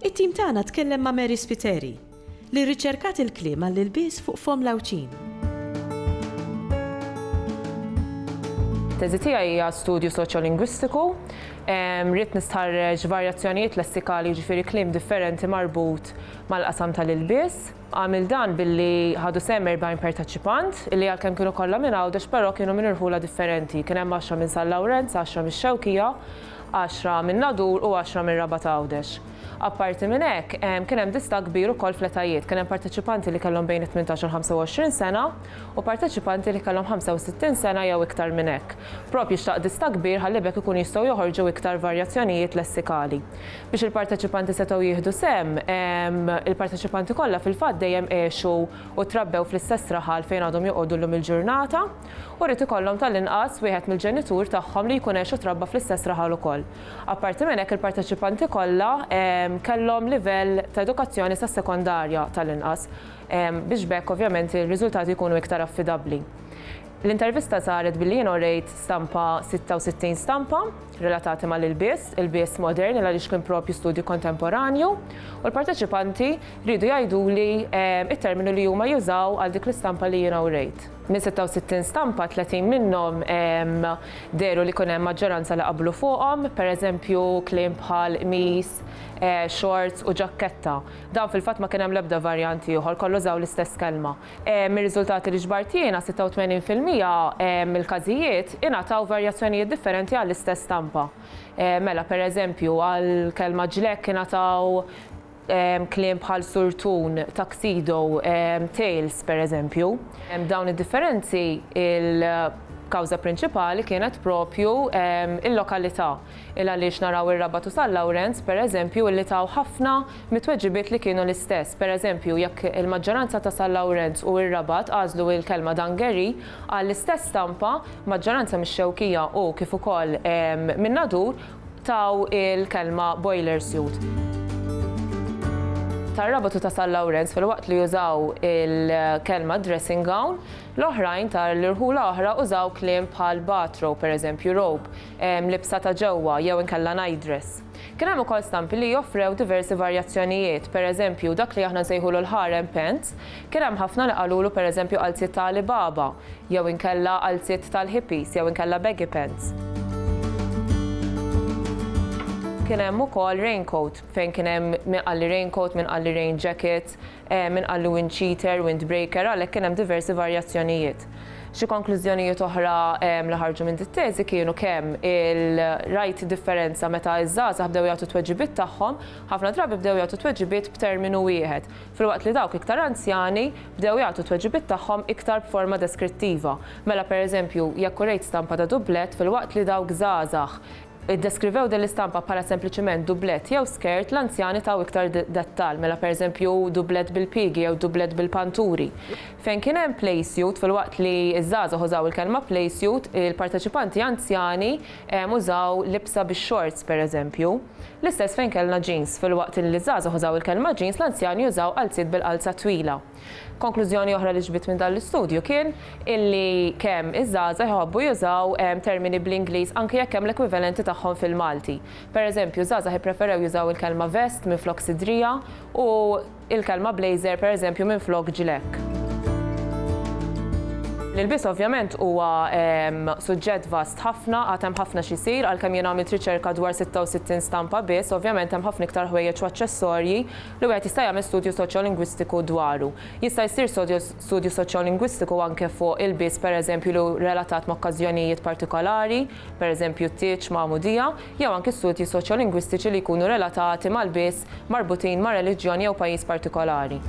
It-tim tagħna tkellem ma' Mary Spiteri, li rriċerkat il-kliem għall-ilbies fuq fomm l-għawġin. It-teżi tiegħi hija studju soċjolingwistiku. Ridt nistħarreġ varjazzjonijiet lessikali, jiġifieri kliem differenti marbut mal-qasam tal-ilbies. Għamilt dan billi ħadu sehem 40 perteċipant li għalkemm kienu kollha minn Għawdex però kienu minn irħula differenti. Kien hemm għaxra minn San Lawrenz, għaxra mix-Xewkija għaxra minn Nadur u għaxra minn Rabat Għawdex. Apparti minn hekk, kien hemm distakk kbir ukoll fl-etajiet, kien hemm parteċipanti li kellhom bejn it-tmintax u l-25 sena u parteċipanti li kellhom 65 sena jew iktar minn hekk. Proprju xtaq distakk kbir ħalli b'hekk ikunu jistgħu joħorġu iktar varjazzjonijiet lessikali. Biex il-parteċipanti setgħu jieħdu sehem, il-parteċipanti kollha fil-fatt dejjem għexu u trabbew fl-istess raħal fejn għadhom joqogħdu llum il-ġurnata. u jrid ikollhom tal-inqas wieħed mill-ġenitur tagħhom li jkun għex u trabba fl-istess raħal ukoll. Apparti minn hekk il-parteċipanti kollha kellhom livell ta' edukazzjoni sas-sekondarja tal-inqas biex b'hekk ovvjament ir-riżultati jkunu iktar affidabbli. L-intervista saret billi jien orejt stampa 66 stampa relatati mal-ilbies, ilbies moderni għaliex kien propju studju kontemporanju u l-parteċipanti riedu jgħiduli t-terminu li huma jużaw għal dik l-istampa li jiena urejt. Minn 66 stampa, 30 minnhom dehru li kien hemm maġġoranza li qablu fuqhom, pereżempju kliem bħal qmis, xorts u ġakketta. Dawn fil-fatt ma kien hemm l-ebda varjant ieħor, kollha użaw l-istess kelma. Mir-riżultati li ġbart jiena, 86 fil-mija mill-każijiet ingħataw varjazzjonijiet differenti għall-istess stampa. Mela, pereżempju, għall-kelma ġlekk ingħataw. kliem bħal surtun, tuxedo, tails, pereżempju. B'dawn id-differenzi, il-kawża prinċipali kienet proprju l-lokalità, il għaliex naraw ir-Rabat u San Lawrenz, pereżempju, li taw ħafna mit-tweġibiet li kienu l-istess. Pereżempju, jekk il-maġġoranza ta' San Lawrenz u r-Rabat għażlu l-kelma dangeri għall-istess stampa, maġġoranza mix-Xewkija u, kif ukoll, min-Nadur, taw il-kelma boiler suit. Tar-Rabat u ta' San Lawrenz filwaqt li użaw il-kelma dressing gown, l-oħrajn ta' l-irħula oħra użaw kliem bħal bathrobe, pereżempju robe, libsa ta' ġewwa jew inkella nightdress. Kien hemm ukoll stampi li offrew diversi varjazzjonijiet, pereżempju dak li aħna nsejħulu l-harem pants Kien hemm ħafna li qalulu pereżempju qalziet ta' Ali Baba, jew inkella qalziet tal-hippies jew inkella baggy pants. Kien hemm ukoll raincoat, fejn kien hemm min qalli raincoat, min qalli rain jacket, min qalli wind cheater, wind breaker, għalhekk kien hemm diversi varjazzjonijiet. Xi konklużjonijiet oħra li ħarġu minn dit-teżi kienu kemm il, rajt differenza meta ż-żgħażagħ bdew jagħtu t-tweġibiet tagħhom, ħafna drabi bdew jagħtu t-tweġibiet b'terminu wieħed, filwaqt li dawk iktar anzjani bdew jagħtu t-tweġibiet tagħhom iktar b'forma deskrittiva. Mela pereżempju, jekk urejt stampa ta' dublett filwaqt li dawk żgħażagħ iddeskrivew din l-istampa bħala sempliċement dublett jew skirt, l-anzjani taw iktar dettall, mela pereżempju dublett bil-piegi jew dublett bil-panturi. Fejn kien hemm playsuit, filwaqt li ż-żgħażagħ użaw il-kelma playsuit, il-parteċipanti anzjani użaw libsa bix-xorts pereżempju. L-istess fejn kellna jeans. Filwaqt li ż-żgħażagħ użaw il-kelma jeans, l-anzjani użaw qalziet bil-qalza twila. Konklużjoni oħra li ġbidt minn dan l-istudju kien illi kemm iż-żgħażagħ iħobbu jużaw termini bl-Ingliż anki jekk hemm l-ekwivalenti tagħhom fil-Malti. Pereżempju, ż-żgħażagħ ippreferew jużaw il-kelma vest minflok sidrija u, il-kelma blazer pereżempju minflok ġlekk. L-ilbies ovvjament huwa suġġett vast ħafna, għad hemm ħafna x'isir, għalkemm jien għamilt riċerka dwar 66 stampa biss, ovvjament hemm ħafna iktar ħwejjeġ u aċċessorji li wieħed jista' jagħmel studju soċjolingwistiku dwaru. Jista' jsir studju soċjolingwistiku anke fuq ilbies pereżempju li hu relatat ma' okkażjonijiet partikolari, pereżempju t-tieġ, magħmudija, jew anki studji soċjolingwistiċi li jkunu relatati ma' lbies, marbutin ma' reliġjon jew pajjiż partikolari.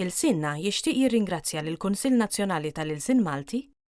Il-SINNA jixtieq jirringrazzja lill-Kunsill Nazzjonali tal-Ilsien Malti,